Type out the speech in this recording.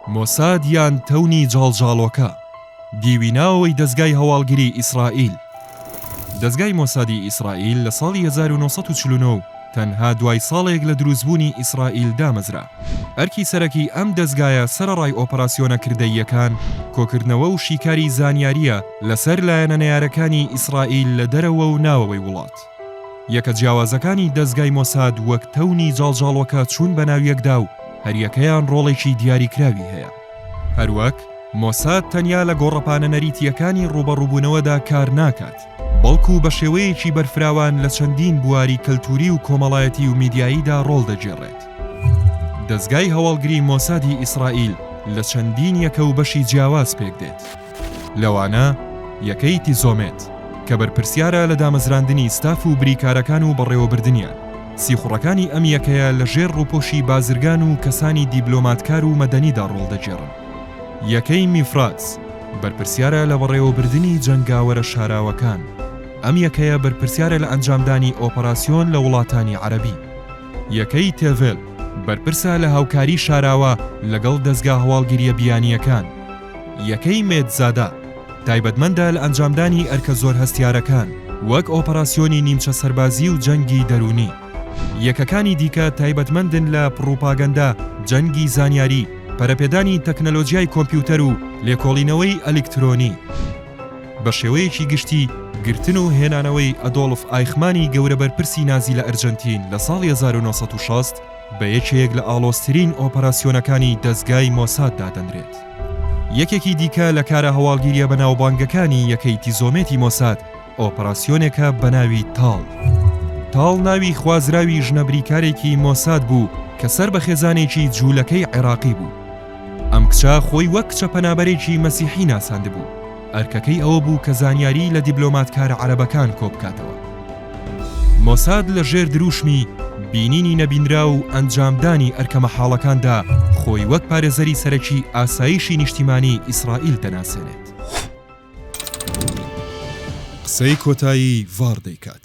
مۆساد یان تەونی جاڵجاڵۆکە، دیوی ناوەوەی دەزگای هەواڵگری ئیسرائیل. دەزگای مۆسادی ئیسرائیل لە ساڵی هەزار و نۆ سەد و چل و نۆ و تەنها دوای ساڵێک لە دروستبوونی ئیسرائیل دامەزرا. ئەرکی سەرەکی ئەم دەزگایە سەرەڕای ئۆپەراسیۆنە کردەییەکان، کۆکردنەوە و شیکاری زانیارییە لەسەر لایەنە نەیارەکانی ئیسرائیل لە دەرەوە و ناوەوەی وڵات. یەکە جیاوازەکانی دەزگای مۆساد وەک تەونی جاڵجاڵۆکە چوون بە ناویەکدا و هەریەکەیان ڕۆڵێکی دیاریکراوی هەیە. هەروەک مۆساد تەنیا لە گۆڕەپانە نەریتییەکانی ڕووبەڕووبوونەوەدا کار ناکات، بەڵکو بە شێوەیەکی بەرفراوان لە چەندین بواری کەلتووری و کۆمەڵایەتی و میدیاییدا ڕۆڵ دەگێڕێت. دەزگای هەواڵگری مۆسادی ئیسرائیل لە چەندین یەکە و بەشی جیاواز پێکدێت. لەوانە، یەکەی تیزۆمێت، کە بەرپرسیارە لە دامەزراندنی ستاف و بریکارەکان و بەڕێوەبردنیان، سیخوڕەکانی ئەم یەکەیە لە ژێر ڕووپۆشی بازرگان و کەسانی دیبلۆماتکار و مەدەنیدا ڕۆڵ دەگێڕن. یەکەی میفراز، بەرپرسیارە لە بەڕێوەبردنی جەنگاوەرە شاراوەکان، ئەم یەکەیە بەرپرسیارە لە ئەنجامدانی ئۆپەراسیۆن لە وڵاتانی عەرەبی. یەکەی تێڤێل، بەرپرسە لە هاوکاری شاراوە لەگەڵ دەزگا هەواڵگرییە بیانییەکان، یەکەی مێدزادە تایبەتمەندە لە ئەنجامدانی ئەرکە زۆر هەستیارەکان، وەک ئۆپەراسیۆنی نیمچە سەربازی و جەنگی دەروونی. یەکەکانی دیکە تایبەتمەندن لە پڕوپاگەندە، جەنگی زانیاری، پەرەپێدانی تەکنەلۆجیای کۆمپیوتەر و لێکۆڵینەوەی ئەلیکترۆنی. بە شێوەیەکی گشتی، گرتن و هێنانەوەی ئەدۆڵف ئایخمانی گەورە بەرپرسی نازی لە ئەرجەنتین لە ساڵی هەزار و نۆ سەد و شەست، بە یەکێک لە ئاڵۆزترین ئۆپەراسیۆنەکانی دەزگای مۆساد دادەنرێت. یەکێکی دیکە لە کارە هەواڵگیرییە بەناوبانگەکانی یەکەی تیزۆمێتی مۆساد، ئۆپەراسیۆنێکە بەناوی تاڵ. تاڵ ناوی خوازراوی ژنە بریکارێکی مۆساد بوو کە سەر بە خێزانێکی جوولەکەی عێراقی بوو. ئەم کچە خۆی وەک کچە پەنابەرێکی مەسیحی ناساندبوو، ئەرکەکەی ئەوە بوو کە زانیاری لە دیبلۆماتکارە عەرەبەکان کۆبکاتەوە. مۆساد لە ژێر درووشمی بینینی نەبینراو و ئەنجامدانی ئەرکە مەحاڵەکاندا خۆی وەک پارێزەری سەرەکی ئاسایشی نیشتیمانی ئیسرائیل دەناسێنێت. قسەی کۆتایی ڤاڕ دەیکات.